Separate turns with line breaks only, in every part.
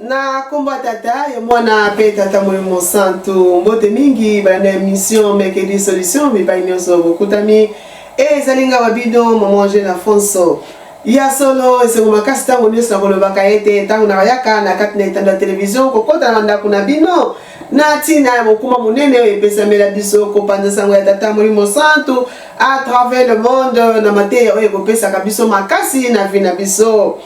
na kombo ya tata ya mwana mpe tata molimo mosantu mbote mingi banda emission mercredi solution bipai nyonso bokutami e ezali nga babino mama angel afonso ya solo esengo makasi ntango nyonso nakolobaka ete ntango nabayaka na kati na etando ya televizio kokota na bandako na bino na ntina ya mokuma monene oyo epesamela biso kopanza nsango ya tata molimo santu à travers le monde na mateya oyo ekopesaka biso makasi na vi na biso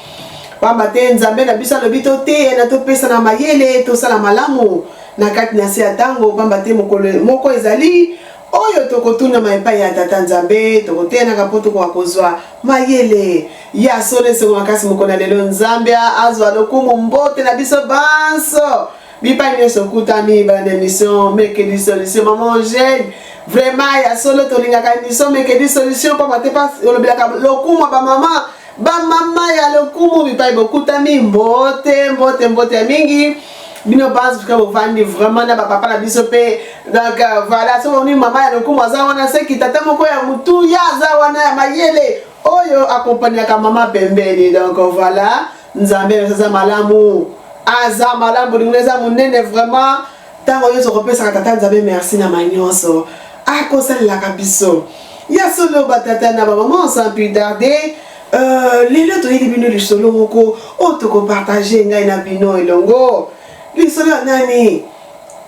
Pamba te Nzambe na biso alobi toteyana, topesana mayele, tosala malamu na kati na se ya ntango, pamba te mokolo moko ezali oyo tokotunama epai ya Tata Nzambe, tokoteyanaka mpo tokoka kozwa mayele ya solo. Esengo makasi mokona lelo, Nzambe azwa lokumu. Mbote na biso banso bipai nyonso okutani bana na emission meke di solution mama angele vraiment ya solo tolingaka emission meke di solution mpamba te olobelaka lokumu ya bamama Ba mama ya lokumu bipai bokutami mbote mbote mbote ya mingi bino basi tuka bovandi vraiment na bapapa na biso mpe donc euh, voilà soki omoni mama ya lokumu aza wana seki tata moko ya motuya aza wana ya mayele oyo akompaniaka mama pembeni donc voilà nzambe aza malamu aza malamu bolingo eza monene vraiment Ntango nyonso kopesaka Tata Nzambe merci na manyonso akosalelaka biso. Ya solo batata na bamama sans plus tarder euh, lelo toyeli bino lisolo moko oyo tokopartage ngai na bino elongo. Lisolo ya nani?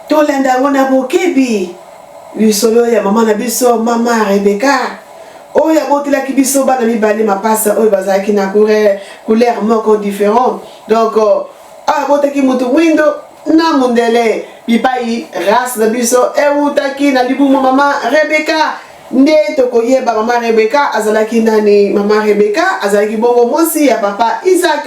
Tolanda yango na bokebi. Lisolo ya mama na biso mama Rebeka oyo abotelaki biso bana mibale mapasa oyo bazalaki na couleur moko différent donc euh, oyo abotaki moto mwindo na mondele bipai race na biso ewutaki na libumu mama rebeka nde tokoyeba mama rebeka azalaki nani mama rebeka azalaki bongo mwasi ya papa isaac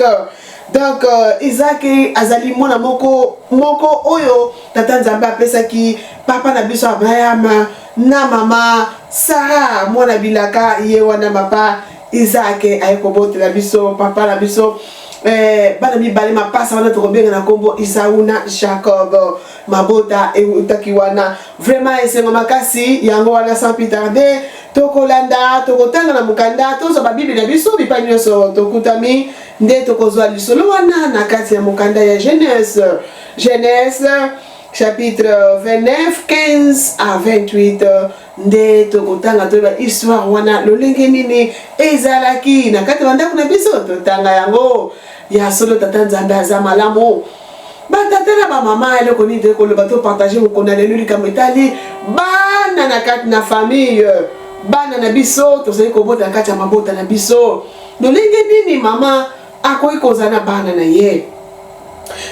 donc euh, izaki azali mwana moko moko oyo tata nzambe apesaki papa na biso abrahama na mama sara mwana bilaka ye wana mapa Isaac aye kobotela biso papa na biso eh, bana mibale mapasa wana tokobenga na nkombo isau na jacob mabota eutaki wana vraiment esengo makasi yango wana sans plus tarde tokolanda tokotanga na mokanda tozwa babible na biso bipai nyonso tokutami nde tokozwa lisolo wana na kati ya mokanda ya genese genese chapitre 29 15 à 28 nde tokotanga toyeba histoire wana lolenge nini ezalaki na kati ya bandako na biso totanga yango ya solo tata nzambe aza malamu batata na bamama eloko nini toyei koloba topartage mokona lelo likambo etali bana na kati na famille bana na biso tozali kobota na kati ya mabota na biso lolenge nini mama akoki kozala na bana na ye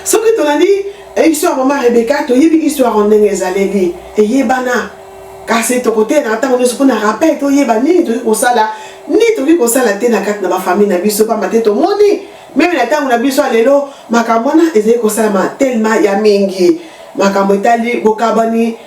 soki tolandi eh, histoire mama rebeka toyebi histoire o ndenge ezaleli eyebana kasi tokotelaka ntango nyonso mpo na rappel toyeba nini tokoki kosala nini tokoki kosala te na kati na bafamile na biso mpamba te tomoni meme na ntango na biso ya lelo makambo wana ezali kosalama telema ya mingi makambo etali bokabani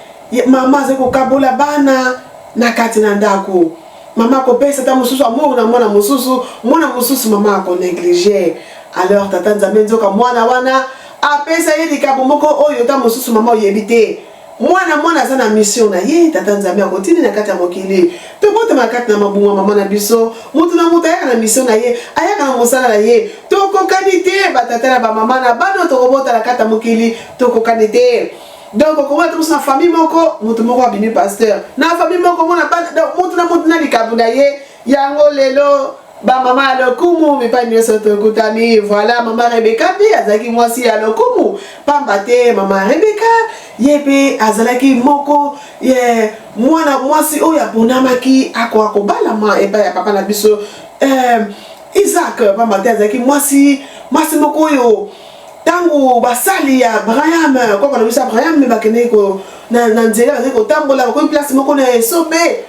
mama azali kokabola bana na kati na ndako Mama akopesa ta mosusu amour na mwana mosusu, mwana mosusu mama ako negliger. Alors tata Nzambe nzoka mwana wana apesa ye likambo moko oyo ta mosusu mama oyebi te. Mwana mwana aza na mission na ye, tata Nzambe akotindi na kati ya mokili. Tobotama kati na mabunga mama na biso, moto na moto ayaka na mission na ye, ayaka na mosala na ye. Tokokani te batata na bamama na bana tokobota na kati ya mokili, tokokani te. donc okomona te mosu na famille moko motu moko abimi pasteur na famille moko omona motu na motu na likambo na ye yango lelo bamama ya lokumu mipai nyonso tokutami voilà mama rebeka mpe azalaki mwasi ya lokumu pamba te mama rebeka ye mpe azalaki moko ye mwana mwasi oyo aponamaki akoka kobalama epai ya papa na biso eh, isaac pamba te azalaki mwasi mwasi moko oyo ntango basali ya abraham koko alobisa abraham nde bakendeki na nzela bazali kotambola bakomi place moko na esobe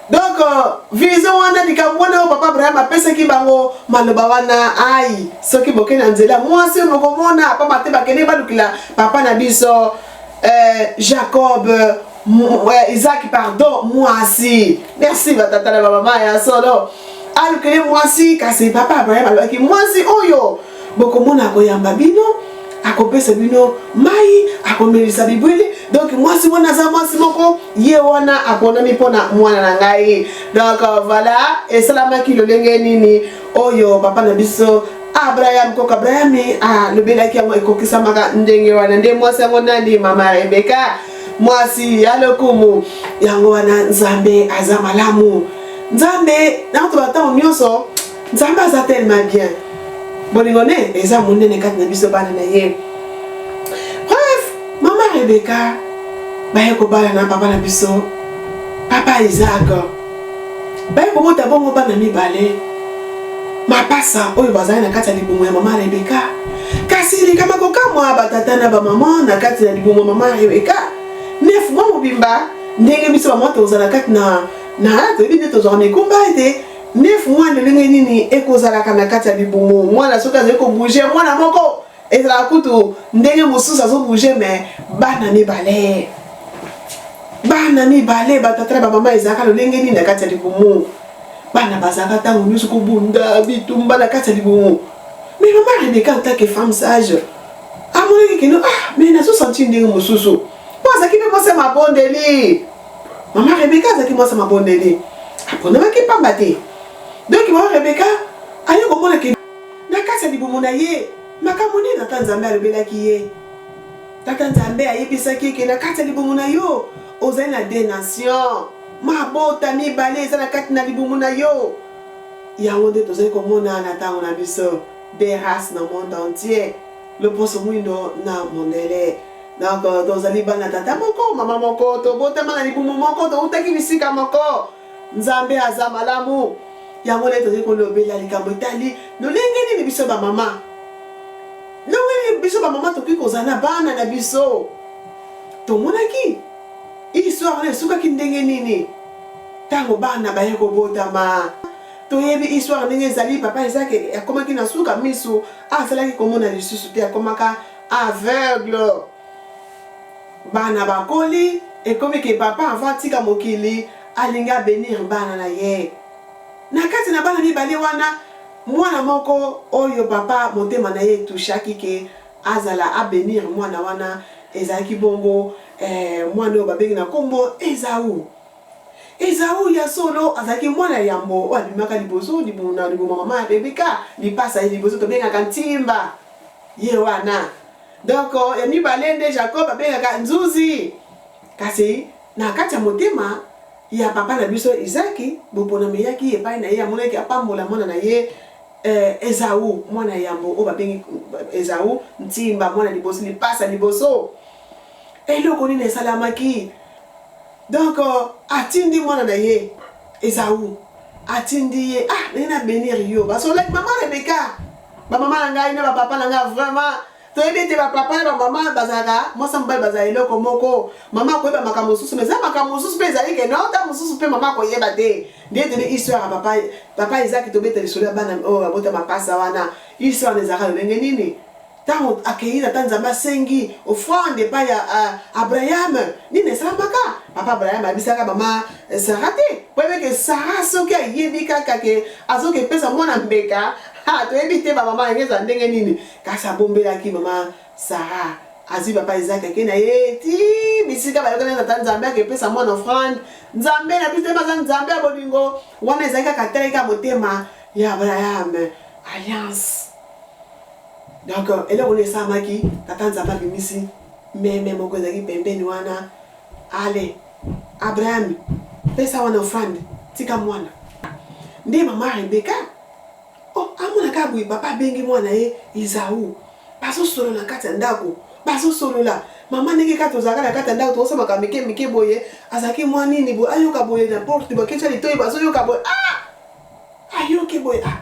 donc euh, vision wana likambo wana oyo papa abraham apesaki bango maloba wana ai soki boke na nzela mwasi oyo bokomona pamba te bakendeki balukela papa na biso euh, jacob euh, isaki pardon mwasi merci batata na bamama ya solo alukeli mwasi kasi papa abraham alobaki mwasi oyo oh, bokomona akoyamba bino akopesa bino mai akomelisa bibwele donc mwasi wana aza mwasi moko ye wana aponami mpo na mwana na ngai donc voilà esalamaki lolenge nini oyo papa na biso abraham koko abrahami alobelaki yango ekokisamaka ndenge wana nde mwasi yango nani mama rebeka mwasi ya lokumu yango wana nzambe aza malamu nzambe na bato bantango nyonso nzambe aza tellement bien bolingo ne eza monene kati na biso bana na ye bref mama rebeka baye kobala na papa na biso papa isak baye kobota bongo bana mibale mapasa oyo bazali na kati ya libumu ya mama rebeka kasi likama kokamwa batata na bamama na kati na libumu ya mama rebeka nef mwa mobimba ndenge biso bamwa tozala kati na na toyebi nde tozwaka mikumba ete Neuf mois ndenge nini ekozalaka na kati ya libumu mwana soki azali kobouge mwana moko ezalaka kutu ndenge mosusu azobouge me bana mibale bana mibale batata na bamama ezalaka lolenge nini na kati ya libumu bana bazalaka ntango nyonso kobunda bitumba na kati ya libumu me mama rebeka antake femme sage amonaki kino ah me nazosanti ndenge mosusu mpo azalaki mpe mose mabondeli Mama Rebeka azalaki mwasi ya mabondeli, aponamaki mpamba te. Donki mama Rebeka aye komona ke na kati ya libumu na ye makambo nini Tata Nzambe alobelaki ye. Tata Nzambe ayebisaki ke na kati ya libumu na yo ozali na de nation, mabota mibale eza na kati na libumu na yo. Yango nde tozali komona na ntango na biso, de race na monde entier, loposo mwindo na mondele. Donc euh, tozali bana tata moko mama moko, tobotama na libumu moko, toutaki bisika moko. Nzambe aza malamu. Yango nde tozali kolobela likambo etali lolenge nini biso bamama, ndenge nini biso bamama tokoki kozala na bana na biso. Tomonaki histoire wana esukaki ndenge nini ntango bana baye kobotama toyebi histoire ndenge ezali papa ezaki akomaki na suka misu asalaki komona lisusu te akomaka Aveugle bana bakoli ekomi ke papa avant atika mokili alingi a benir bana na ye na kati na bana mibale wana mwana moko oyo papa motema na ye e touchaki ke azala a benir mwana wana ezalaki bongo eh mwana oyo babengi na kombo Ezau. Ezau ya solo azalaki mwana ya yambo oyo abimaka liboso na libumu mama ya Rebeka lipasa ye liboso tobengaka ntimba. ye wana donc ya mibale nde jacob abengaka nzuzi kasi na kati ya motema ya papa na biso izaki boponami eyaki epai na ye amonaki apambola mwana na ye eh, ezau mwana yambo oyo babengi ezau ntimba mwana liboso lipasa liboso eloko nini esalamaki Donc atindi mwana na ye Esaü atindi ye ah naye na benir yo basolaki mama Rebeka bamama na ngai na bapapa na ngai vraiment toyebi ete bapapa na bamama bazalaka mwasi ya mobali bazala eloko moko mama akoyeba makambo mosusu ma eza makambo mosusu mpe ezali ke nao ntango mosusu mpe mama akoyeba te nde etene histoire ya papa papa ezaki tobeta lisolo ya bana oyo oh, abota mapasa wana histoire na ezalaka lolenge nini Ntango akei, tata Nzambe asengi ofrande epai ya uh, Abraham. Nini esalamaka? Papa Abraham abisaka mama eh, Sara te. Boyebeke Sara soki ayebi kaka ke azoki epesa mwana mbeka, ha, toyebi te bamama yango ezala ndenge nini. Kasi abombelaki mama Sara azwi papa Isaac ake na ye ti bisika bayokani na tata Nzambe akepesa mwana ofrande. Nzambe na biso emaza Nzambe ya bolingo, wana ezali kaka ataleka motema ya Abraham. Alliance. Donc eloko nini esalamaki? Tata Nzambe abimisi meme moko ezalaki pembeni wana, ale Abraham pesa wana offrande, tika mwana. Nde mama Rebeka oh, amona kaka boye papa abengi mwana ye Izau, bazosolola na kati ya ndako, bazosolola mama ndenge kaka tozalaka na kati ya ndako tokosamaka mike mike boye, azalaki mwa nini boye, ayoka boye na porte baketya litoi, bazoyoka boye ah! ayoki boye ah!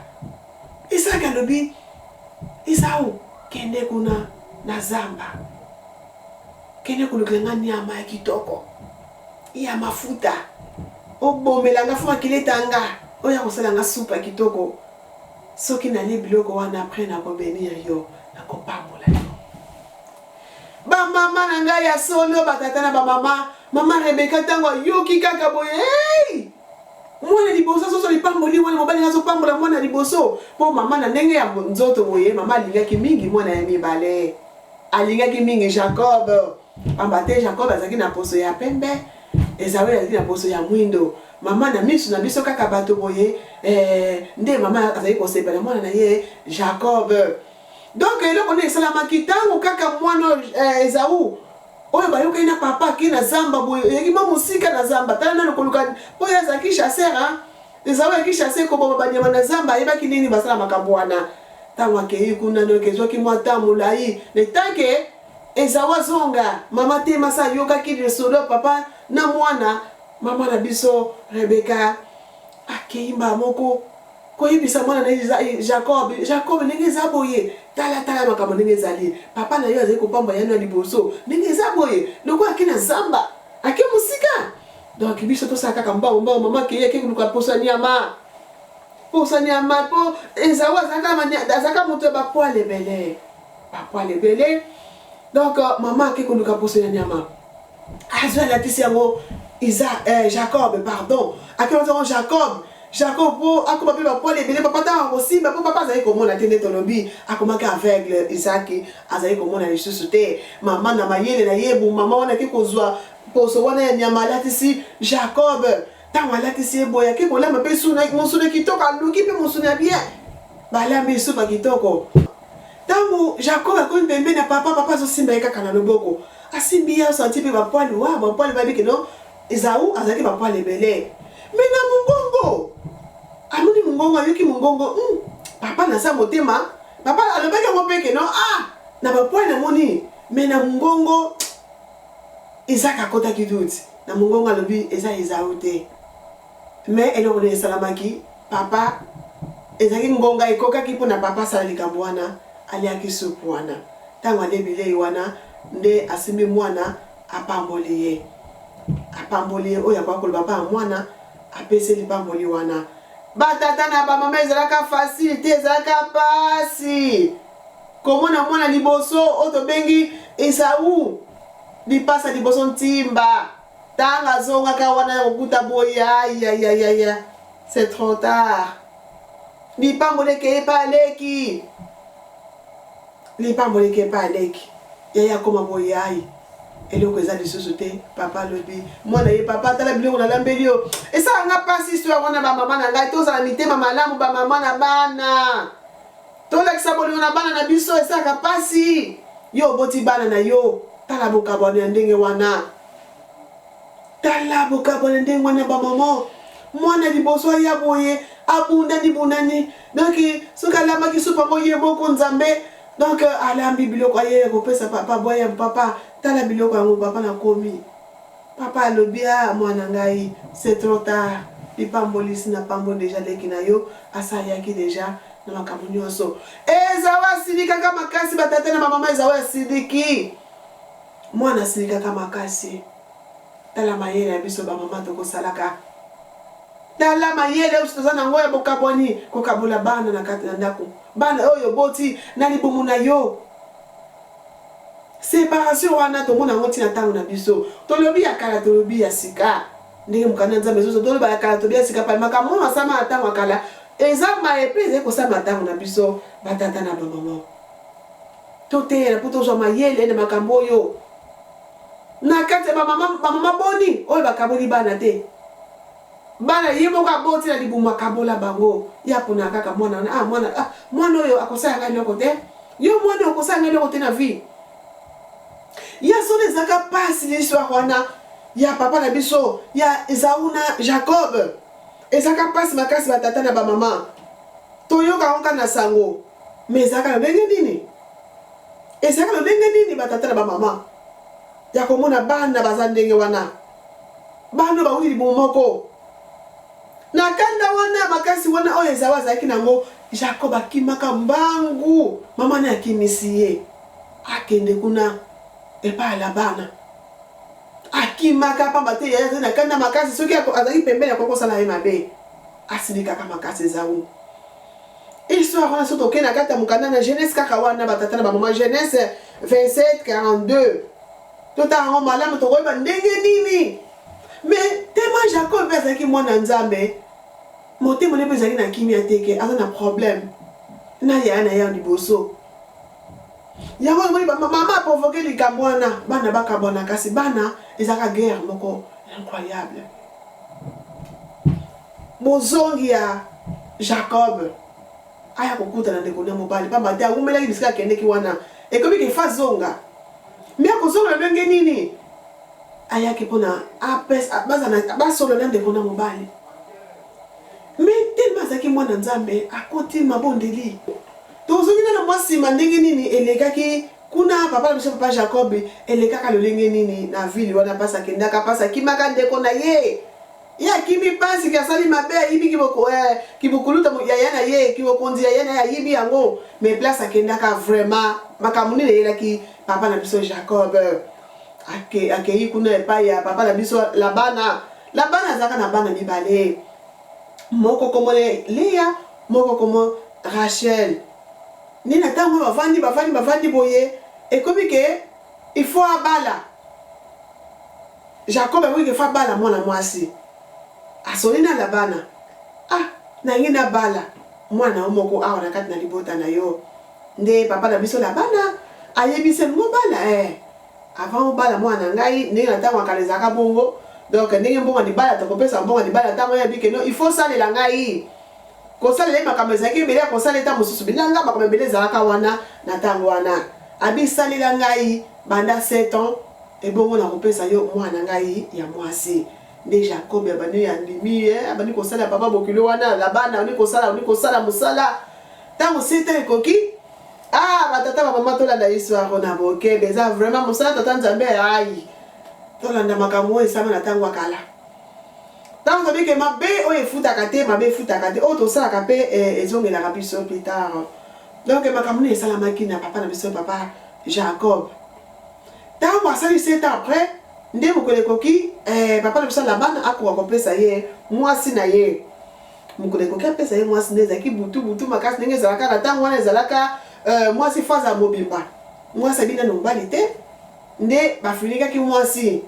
Isaki alobi Esau, kende kuna na zamba, kende kolukela nga niama ya kitoko ya mafuta, obomela nga fo akileta nga oyo akosala nga supu ya kitoko. Soki nalie biloko wana apres nakobenir yo, nakopambola yo. Bamama na ngai ya solo, batata na bamama, mama Rebeka ntango ayoki kaka boye hey! Mwana ya liboso azozwa lipamboli wana mobali azo pambola mwana ya liboso mpo mama na ndenge ya nzoto boye mama alingaki mingi mwana ya mibale alingaki mingi Jacob pamba te Jacob azalaki na poso ya pembe Esawe azalaki na poso ya mwindo mama na miso na biso kaka bato boye eh, nde mama azali kosepela mwana na ye Jacob donc eloko nde esalamaki ntango kaka mwana eh, Ezau oyo bayokani na papa ke na zamba boye oyaki mwa mosika na zamba tala nano koluka oyo azalaki chasseur a ezala oyaki chasseur koboma banyama na zamba ayebaki ndenge nini basala makambo wana ntango akei kuna noke ezwaki mwa ntan molai na etanke ezawa azonga mama te masa ayokaki lisolo ya papa na mwana mama na biso rebeka akei mbala moko koyebisa mwana na ye jacob jacob ndenge eza boye tala tala makambo ndenge ezali papa na yo azali kopamba yano ya liboso ndenge eza boye lokola ake na zamba ake mosika donk biso tosala kaka mbao mbao mama keye ake koluka posa nyama posa nyama mpo ezao azalaka moto ya bapoil ebele bapoil ebele donk mama ake koluka posa ya nyama Azo alakisi yango Isa, eh, Jacob, pardon. Akela yango Jacob. Jacob po akoma pe bapole ebele papa ntango akosimba po papa azali komona te nde tolobi akomaki aveugle isaki azali komona lisusu te mama na mayele na ye bomama wana ake kozwa poso wana ya nyama alatisi jacob Tango alatisi ye boye ake kolamba mpe suna mosuni kitoko aluki mpe mosuni ya bien balambi lisusu ba kitoko. Tango Jacob akomi pembeni ya papa, papa azosimba ye kaka na loboko asimbi ye asanti mpe ba poil wa ba poil bayebi ke no Esawu azalaki ba poil ebele mais na mongongo amoni mongongo ayoki mongongo hum papa naza motema papa alobaki yango mpe ke no ah na ba poil namoni mais na mongongo Isaac akotaki doute na mungongo alobi eza Esaü te mais eloko nini esalamaki papa ezalaki ngonga ekokaki pona papa asala likambo wana aliaki soupe wana tango alie bileyi wana nde asimbi muana apamboli ye apamboli ye oyo akoki koloba pa muana apesi lipamboli wana ba tata na ba mama ezalaka facile te ezalaka pasi Komona mwana liboso oyo tobengi Esau lipasa liboso ntimba tanga azongaka wana ya kokuta boye ayayayaya c'est trop tard lipamboli ekei epa aleki lipamboli ekei epa aleki yaya akoma boye ayi eloko eza lisusu te papa alobi mwana ye papa tala biloko nalambeli yo esala nga mpasi histoire wana bamama na ngai tozala mitema malamu bamama na bana Tolakisa bolingo na bana na biso esalaka mpasi. Yo oboti bana na yo, tala bokabwani ya ndenge wana. Tala bokabwani ya ndenge wana, bamama. Mwana liboso aya boye, abundani bundani, donc soki alambaki supu yango ye moko nzambe, donc alambi biloko aye kopesa papa boye, papa tala biloko yango papa nakomi Papa alobi aah muana ngai c'est trop tard lipambolisi na pambo dejà leki na yo asaliaki dejà na makambo nionso Ezau asilikaka makasi ba tata na ba maman Ezau asiliki muana asilikaka makasi tala mayele ya biso ba maman toko salaka tala mayele oyo toza na ngo ya bokabwani kokabola bana na kati na ndako bana oyo oboti na libumu na yo Separation wana tomona yango ti na tango na biso. Tolobi ya kala tolobi ya sika. Ndenge mokanda ya Nzambe ezo toloba ya kala tolobi ya sika pay makambo oyo masalama na tango ya kala eza maye pe ezali kosalama na tango na biso ba tata na ba maman. Toteyana po tozwa mayele na makambo oyo. Na kati ya ba maman ba maman boni oyo bakaboli bana te? Bana ye moko aboti na libumu akabola bango ye aponaka kaka mwana wana ah mwana ah mwana oyo akosala ngai eloko te yo mwana oyo okosala ngai eloko te na vie ya solo ezalaka mpasi l'histoire wana ya papa na biso ya ezau na jacob ezalaka mpasi makasi batata na bamama toyoka yango kaka na sango ma ezalaka lolenge nini ezalaka lolenge nini batata na bamama ya komona bana baza ndenge wana Bana bawuti libumu moko. Na kanda wana ya makasi wana oyo Ezau azalaki na yango, Jakob akimaka mbangu. Mama ne akimisi ye akende kuna epai ya Labana. Akimaka pamba te yaya azali na kanda makasi, soki azali pembeni akoki kosala ye mabe. Asilikaka makasi Ezau. Histoire wana soki tokei na kati ya mokanda na Genese kaka wana batata na bamama Genese 27 42 Totala yango malamu, tokoyeba ndenge nini. Me tema Jacob mpe azalaki mwana Nzambe, motema ne mpe ezalaki na kimia te, ke aza na problème na yaya na ye ya liboso. Yango omoni mama aprovoke likambo wana, bana bakabwana, kasi bana ezalaka guerre moko incroyable. Bozongi ya Jacob aya kokutana ndeko na mobali mpamba te awumelaki bisika akendeki wana ekomi ke fa zonga Mais akozonga ndenge nini? Ayaki mpo na apesa bazala basolo na ndeko na mobali. Mais tellement azalaki mwana Nzambe, akoti mabondeli. Tozongi na mwa nsima ndenge nini elekaki kuna papa na biso papa Jacob elekaka lolenge nini na ville wana pasa kendaka pasa kimaka ndeko na ye Ye akimi pasi ke asali mabe ayibi kiboko eh, kibukuluta mu- yaya na ye kibokonzi yaya na ye ayibi yango mais place akendaka vraiment makambo nini eyelaki papa na biso Jacob Ake, akeyi kuna epai ya papa na biso Labana Labana azalaka na bana mibale moko kombo na ye Lea moko kombo Rachel nini ntango bavandi bavandi bavandi boye ekomi ke Il faut abala Jacob akoki ke faut abala mwana mwasi asoli na Labana ah nalingi nabala mwana yo moko awa na kati na libota na yo nde papa na biso Labana ayebise mobala eh avant obala mwana na ngai ndenge na ntango akala ezalaka bongo donc ndenge mbongo libala tokopesa mbongo libala ntango yabi ke no il faut osalela ngai Kosalela ye makambo ezalaki ebele ya kosala ye ntango mosusu bilanga makambo ebele ezalaka wana na ntango wana. Abi, Salela ngai banda sept ans, ebongo nakopesa yo mwana na ngai ya mwasi. Nde Jakobi abandi, andimi, eh, abandi kosalela papa bokilo wana, Labana abandi kosala, abandi kosala mosala. Ntango sept ans ekoki, ah, batata bamama tolanda histoire oyo na bokebe, eza vraiment mosala tata Nzambe, ayi, tolanda makambo oyo esalama na ntango ya kala. Tango tobi ke mabe oyo efutaka te, mabe efutaka te, oyo tosalaka pe eh, ezongelaka biso plus tard. Donc makambo nini esalamaki na papa na biso papa Jacob? Tango asali sept ans après, nde mokolo ekoki eh, papa na biso Labana akoka kopesa ye mwasi na ye. Mokolo ekoki apesa ye mwasi nde ezalaki butu butu makasi ndenge ezalaka na tango wana ezalaka eh, mwasi faza mobimba. Mwasi abina na mobali te. nde bafinikaki mwasi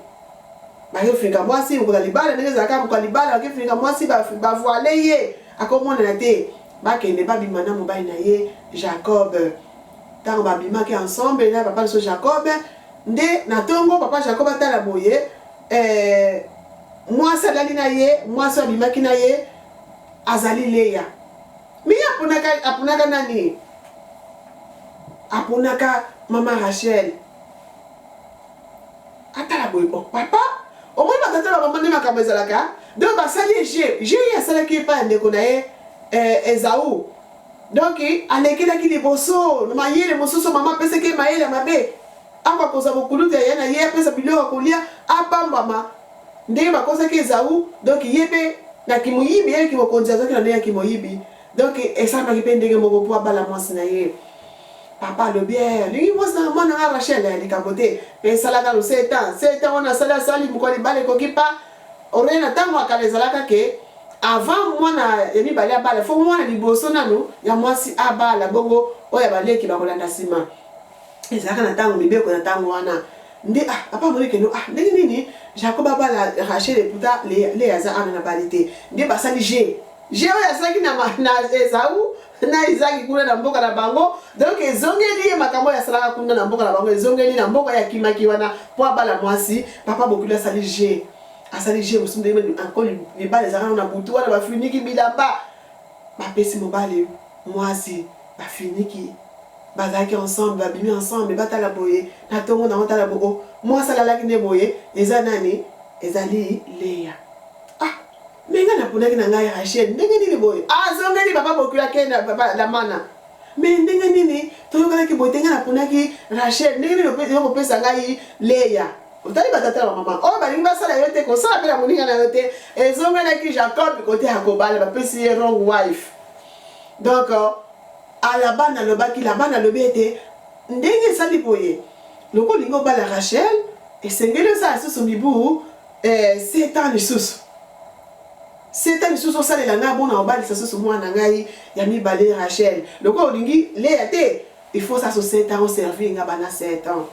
bakefinga mwasi lokola libala ndenge ezalaka mokola libala bakefinga mwasi bavoile ye akomonana te bakende babima na mobali na ye jacob ntango babimaki ensemble na papa biso jacob nde na ntongo papa jacob atala boye eh, mwasi alali na ye mwasi abimaki na ye azali leya Mi aponaka aponaka nani? Aponaka mama Rachel. Atala boye bon papa omoni batata na mama nde makambo ezalaka donc basali ye je je ye asalaki epai ya ndeko na ye eh, ezau donc alekelaki liboso na mayele mosusu mama apesaki ye mayele mabe akokoza bokulutu ya ye na ye apesa biloko ya kolia apambama Ndenge bakosaki Ezawu, donc ye pe na kimoyibi, ye kimokonzi azwaki na ndenge ya kimoyibi, donc esalamaki pe ndenge moko po abala mwasi na ye. Papa alobi, eh, alingi mwasi na mwana nga Rachel, eh, likambo te, pe esala nanu sept ans, sept ans wana asali, asali, mokolo ya libala ekoki pa, oreye na tango ya kala ezalaka ke, avant mwana ya mibale abala, faut mwana liboso nanu ya mwasi abala, bongo oyo ya baleki bakolanda sima. ezalaka na ntango mibeko na ntango wana nde ah, papa amoni keno ah, ndenge nini jacob abala rachel eputa le aza ana na bali te nde basali je je oyo asalaki na, na ezau na izaki kuna na mboka na bango donk ezongeli ye makambo oyo asalaka kuna na mboka na bango ezongeli na mboka ya kimaki wana mpo abala mwasi papa bokili asali je asali je mosusu ndenge encore libala ezalaka na butu wana bafuniki bilamba Bapesi mobali muasi ba finiki bazalaki ensemble babimi ensemble batala boye na tongo nango tala bo o muasi alalaki nde boye eza nani ezali Lea ah mais nga naponaki na ngai Rachel ndenge nini boye azongeli papa bokilo ake na papa Lamana mais ndenge nini toyokanaki boye te nga naponaki Rachel ndenge nini yokopesa ngai Lea otali batata na bamama oyo balingi basala yo te kosala mpe na moninga na yo te ezongelaki jacob kote ya kobala bapesi ye wrong wife donc euh, alabana alobaki labana alobi ete ndenge esali boye loko olingi obala rachel esengeli osala lisusu mibu eh, setan lisusu setan lisusu osalela ngai mpona obalisa susu mwana ngai ya mibale rachel loko olingi leya te Il faut sa so sept ans o servir nga banda sept ans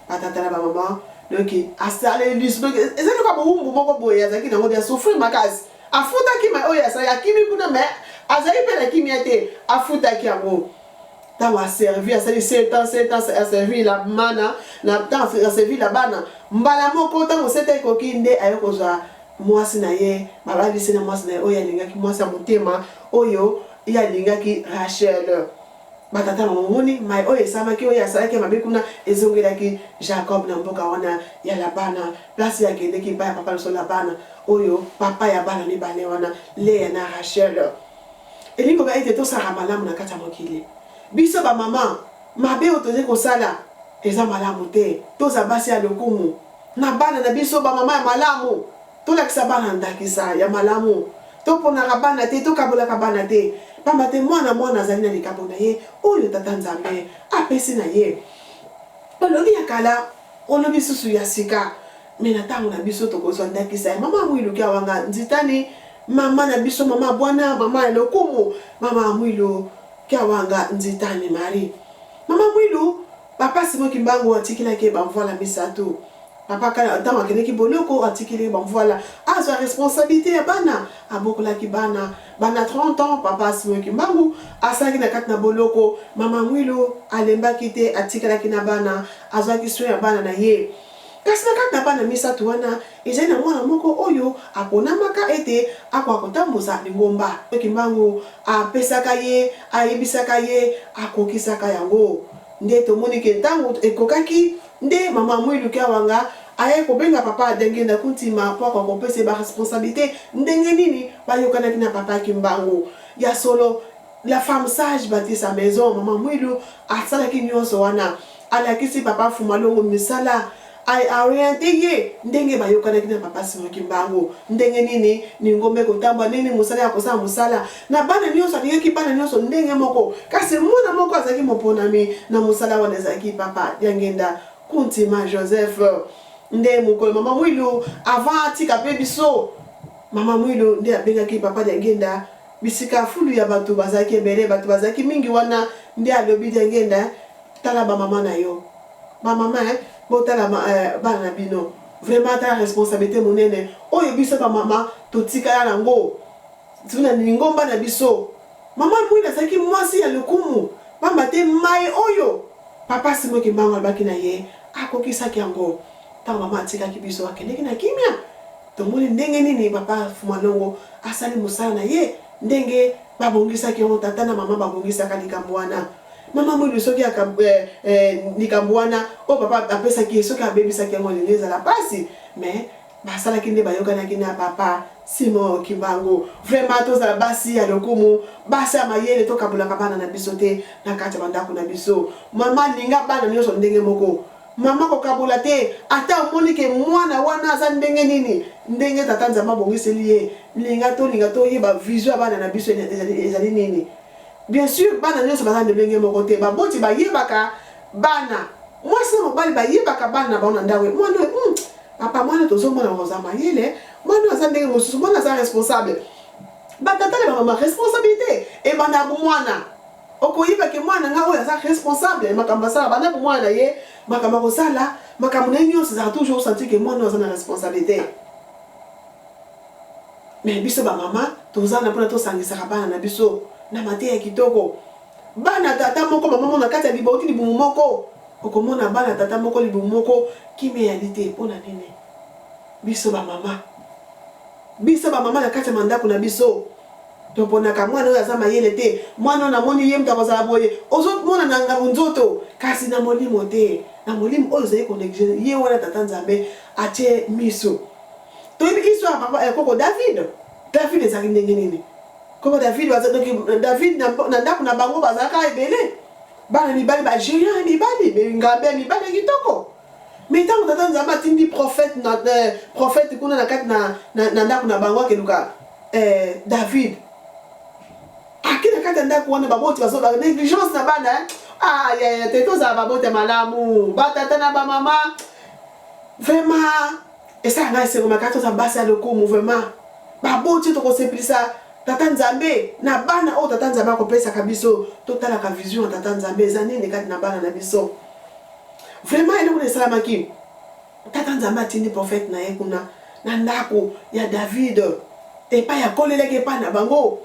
ba tata na ba maman donc asaleli lisu donc eza nioka bowumbu moko boye azalaki nango dia souffrir makasi afutaki ma oyo asali akimi kuna mais azali mpe na kimia te afutaki yango ntango aservi asali 7 ans 7 ans aservi la mana na ntango aservi la bana mbala moko ntango seta ekoki nde aye kozwa mwasi na ye babalisi na mwasi na ye oyo alingaki mwasi ya motema oyo ye alingaki rachel Ba tata momoni mai oyo esalamaki, oyo asalaki ya mabe kuna, ezongelaki Jakob na mboka wana ya Labana, place ye akendeki epai ya papa na biso Labana, oyo papa ya bana mibale wana, Lea na Rachel. Elingi koloba ete tosala malamu na kati ya mokili. Biso ba mama, mabe oyo tozali kosala eza malamu te. Tozala basi ya lokumu na bana na biso, ba mama ya malamu. Tolakisa bana ndakisa ya malamu. Toponaka bana te, tokabolaka bana te, pamba te mwana mwana azali na likabo na ye oyo Tata Nzambe apesi na ye. Balobi ya kala, olobi susu ya sika, mais na tango na biso tokozwa ndakisa ya Mama Mwilu Kiawanga Nzitani, mama na biso, mama bwana, mama ya lokumu, Mama Mwilu Kiawanga Nzitani Marie. Mama Mwilu. Papa Simon Kimbangu atikelaki ye bamvuala misato. Papa Kala ntango akendeki boloko atikeli ye bamvuala azwa responsabilite ya bana, abokolaki bana. Banda 30 ans Papa Simon Kimbangu asalaki na kati na boloko, Mama Mwilu alembaki te atikalaki na bana, azwaki soin ya bana na ye. Kasi na kati na bana misato wana, ezali na mwana moko oyo aponamaka ete akoka kotambusa lingomba, to kimbangu apesaka ye, ayebisaka ye, akokisaka yango. Nde tomoni ke tango ekokaki, nde mama Mwilu Kiawanga ayaki kobenga papa Diangienda Kuntima po akoka kopesa ye ba responsabilites. Ndenge nini bayokanaki na papa kimbangu? Ya solo, La femme sage bati sa maison maman Mwilu asalaki nionso wana alakisi papa Fumalongo misala I oriente ye ndenge bayokanaki na papa Simon Kimbangu ndenge nini lingomba ekotambwa ndenge nini mosala ya kosala mosala na bana nionso alingaki bana nionso ndenge moko kasi mwana moko azalaki moponami na mosala wana ezalaki papa Diangenda Kuntima Joseph nde mokolo mama Mwilu avant atika pe biso mama Mwilu nde abengaki papa Diangenda Bisika fulu ya batu bazalaki ebele, batu bazalaki mingi wana nde alobi Diangenda tala ba maman na yo, ba maman eh botala bana na bino vraiment tala responsabilite munene oyo biso ba maman totikala na ngo ti na lingomba na biso. Maman Mwina azalaki mwasi ya lokumu pamba te maye oyo Papa Simon Kimbangu alobaki na ye akokisaki yango tango maman atikaki biso akendeki na kimia. Tomoni ndenge nini papa Fumalongo asali mosala na ye, ndenge babongisaki yango, tata na mama babongisaka likambo wana. Mama Mwilu soki aka, eh, eh, likambo wana oyo papa apesaki ye, soki abebisaki yango elingi ezala pasi, mais basalaki nde bayokanaki na papa Simon Kimbangu. Vraiment tozala basi ya lokumu, basi ya mayele, tokabulaka bana na biso te na kati ya bandako na biso. Mama linga bana nyonso ndenge moko. Maman kokabola te ata omoni ke mwana wana aza ndenge nini ndenge tata nzambe abongiseli ye linga tolinga toyeba vision ya bana na biso ezali nini bien sur bana nyonso baza ndenge moko te baboti bayebaka bana mwasi na mobali bayebaka bana na bango na ndako mwana oyo hmm, papa mwana tozomona oza mayele mwana oyo aza ndenge mosusu mwana aza responsable batata na bamama responsabilité ebanda mwana Okoyeba ke mwana na nga oyo aza responsable ya makambo asala banda bomwana na ye, makambo akosala, makambo na ye nyonso ezalaka toujours osentir ke mwana oyo aza na responsabilite. Mais biso ba mama toza na pona tosangisaka bana na biso na mateya kitoko. Bana tata moko mama moko na kati ya libauti libumu moko okomona bana tata moko libumu moko kimia eyali te pona nini? Biso ba mama biso ba mama na kati ya mandako na biso Toponaka mwana oyo aza mayele te, mwana oyo namoni ye moto akozala boye, ozo mona na ngambo nzoto kasi na molimo te, na molimo oyo ozali ko negliger ye wana tata nzambe atie miso. Toyebi histoire papa eh, koko David, David ezalaki ndenge nini? Koko David baza donc David na, na ndako na bango bazalaka ebele bana mibali ba géant ya mibali, ngambe ya mibali ya kitoko. Mais tango tata Nzambe atindi prophète na euh, prophète kuna na kati na na ndako na bango akeluka euh, David ake na kati ya ndako wana baboti bazo ba négligence na bana hein? ah ya ya te tozala baboti ya malamu batata na bamama vraiment esala ngai esengo makasi toza basi ya lokumu vraiment baboti tokosepelisa tata nzambe na bana oyo tata nzambe akopesaka biso totalaka vision ya tata nzambe eza nini kati na bana na biso Vraiment eloko esalamaki tata nzambe atindi prophète na ye kuna na ndako ya david epai akolelaki epai na bango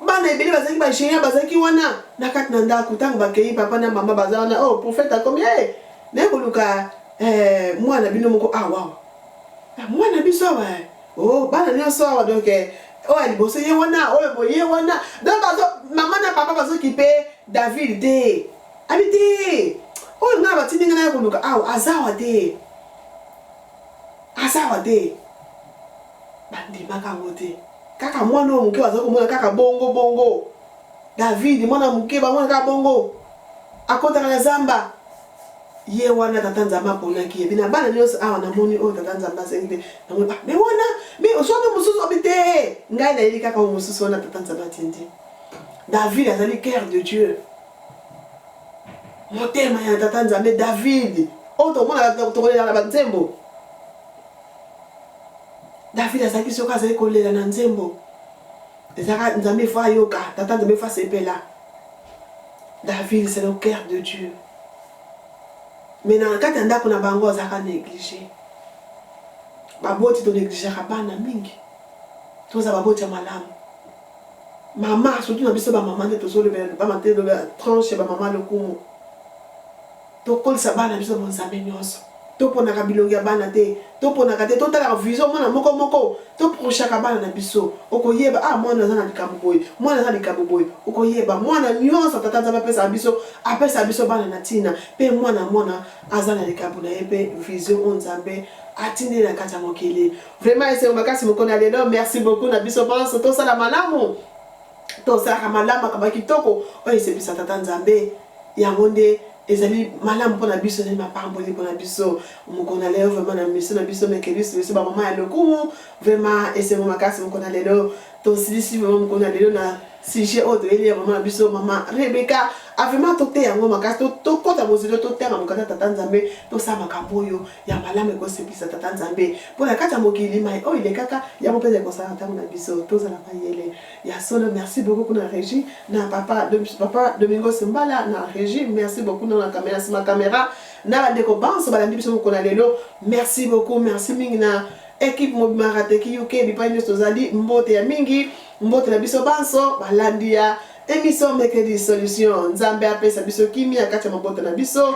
bana ebele bazalaki bagéant bazalaki wana na kati na ndako ntango bakei papa na mama baza wana o oh, prophète akomi e hey, naye koluka eh, mwana bino moko awa ah, ah, mwana biso awa eh. o oh, bana nyonso awa donk eh, oyo ya liboso ye wana oyo boye wana donc mama na papa bazokipe david te Abi te oyo ngai batindi ngai naya koluka awa azawa te azawa te bandimaka yango te kaka mwana oyo moke bazali komona kaka bongo bongo david mwana moke bamona kaka bongo akotaka na zamba ye wana tata nzambe aponaki ye bina bana nyonso awa namoni oyo tata nzambe asengi te namoni ah, me wana me osoki mosusu obi te ngai nayebi kaka oyo mosusu wana tata nzambe atindi david azali cœur de dieu Motema ya Tata Nzambe David oyo tomonaka tokolela na banzembo. David azalaki soki azali kolela na nzembo ezalaka Nzambe efo ayoka, Tata Nzambe efo asepela. David c'est le cœur de Dieu. Mais na kati ya ndako na bango azalaka négligé. Baboti tonegligeaka bana mingi. Toza baboti ya malamu. Maman surtout na biso ba maman nde tozo lobela ba maman te lobela tranche ba maman lokumu to kolisa bana na biso bonzambe nyonso to ponaka bilongi ya bana te to ponaka te to talaka vision mwana moko moko to prochaka bana na biso okoyeba ah mwana aza na likambo boye mwana aza likambo boye okoyeba mwana nyonso tata nzambe apesa biso apesa biso bana na tina pe mwana mwana aza na likambo na ye pe vision o nzambe atindeli na kati ya mokili Vraiment esengo makasi mokona lelo merci beaucoup na biso banso tosala malamu tosalaka malamu akaba kitoko oyo esepisa tata nzambe yango nde ezali malamu mpo na biso ezali mapamboli mpo na biso mokolo na lelo vraimen na miso na biso mekelisi biso bamama ya lokumu vraimen esengo makasi mokolo na lelo tosilisi vraimen mokolo na lelo na sujet oyo toyeli ya mama na biso mama rebeka avaimen ah, toteya yango makasi tokɔta bozilo totanga mokanda tata nzambe tosala makambo oyo ya malamu ekosepisa tata nzambe mpo na kati ya mokili mai oyo elekaka yango mpenza ekosala ntango na biso tozala mayele ya solo merci beaucoup kuna régie na papa, papa domingo simbala na régie merci beaucoup na kamera nsima kamera na bandeko banso balandi biso mokolo ya lelo merci beaucoup merci mingi na ekipe mobima rateki uk bipai nyonso tozali mbote ya mingi mbote na biso banso balandi ya emission mekedi solution nzambe apesa biso kimia kati ya mabota na biso